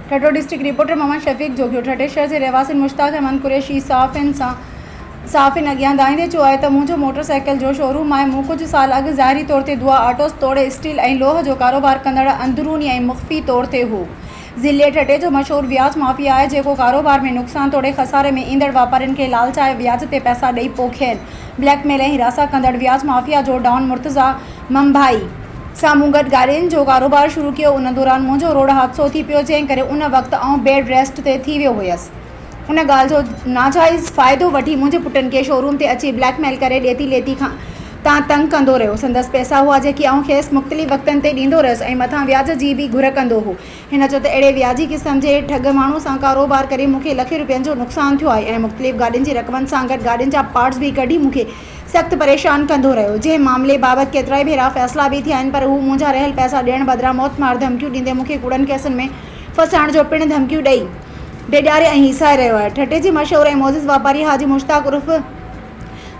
Thatta, district reporter, Muhammad Shafiq Jogio, ٺٽي شهر جي رهواسين مشتاق احمد قريشي صحافين سان صحافين اڳيان دانهيندي چيو آهي ته منهنجو موٽر سائيڪل جو شوروم آهي، مون ڪجهه سال اڳ ظاهري طور تي دعا آٽوز توڙي اسٽيل ۽ لوهه جو ڪاروبار ڪندڙ اندروني ۽ مخفي طور تي هو، ضلعي ٺٽي جو مشهور وياج مافيا آهي جيڪو ڪاروبار ۾ نقصان توڙي خساري ۾ ايندڙ واپارين کي لالچائي وياج تي پئسا ڏئي پوء کين بليڪ ميل ۽ هراسان ڪندڙ وياج مافيا جو ڊان مرتضيٰ ممباهي سان مون گڏ گاڏين جو ڪاروبار شروع ڪيو ان دوران منهنجو روڊ حادثو ٿي پيو جنهن ڪري ان وقت آئون بيڊ ريسٽ تي ٿي ويو هيس ان ڳالهه جو ناجائز فائدو وٺي منهنجي پٽن کي شوروم تي اچي بليڪ ميل ڪري ڏيتي ليتي کان تان تنگ ڪندو رهيو سندس پئسا هئا جيڪي آئون کيس مختلف وقتن تي ڏيندو رهيس ۽ مٿان وياج جي به گهر ڪندو هو هن چيو ته اهڙي وياجي قسم جي ٺڳ ماڻهو سان ڪاروبار ڪري مون کي لکين روپين جو نقصان ٿيو آهي ۽ مختلف گاڏين جي رقمن سان گڏ گاڏين جا پارٽس به ڪڍي مون کي سخت پريشان ڪندو رهيو، جنهن معاملي بابت ڪيترائي ڀيرا فيصلا به ٿيا آهن پر هو منهنجا رهيل پئسا ڏيڻ بدران موتمار ڌمڪيون ڏيندي مون کي ڪوڙن ڪيسن ۾ ڦاسائڻ جو پڻ ڌمڪيون ڏئي ڊيڄاري ۽ هيسائي رهيو آهي. ٺٽي جي مشهور ۽ معزز واپاري حاجي مشتاق عرف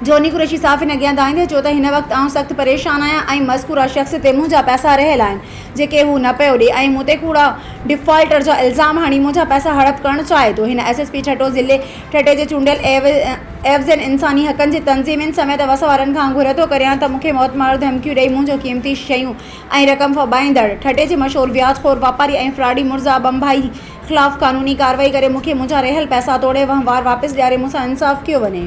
جوني قريشي صحافين اڳيان دانهيندي چيو ته هن وقت آئون سخت پريشان آهيان ۽ مذڪوره شخص تي منهنجا پئسا رهيل آهن جيڪي هو نه پيو ڏئي ۽ مون تي ڪوڙا ڊفالٽر جا الزام هڻي منهنجا پئسا هڙپ ڪرڻ چاهي ٿو هن ايس ايس پي ٺٽو ضلعي ٺٽي جي چونڊيل ايوز اينڊ انساني حقن جي تنظيم ان سميت اوس وارن کان گهر ٿو ڪريان ته مون کي موت مارو ڌمڪيون ڏئي مون جون قيمتي شيون ۽ رقم ڦٻائيندڙ ٺٽي جي مشهور وياج خور واپاري ۽ فراڊي مرزا ٻنڀائي خلاف قانوني ڪارروائي ڪري مون کي منهنجا رهيل پئسا توڙي وهنوار واپس ڏياري مون سان انصاف ڪيو وڃي.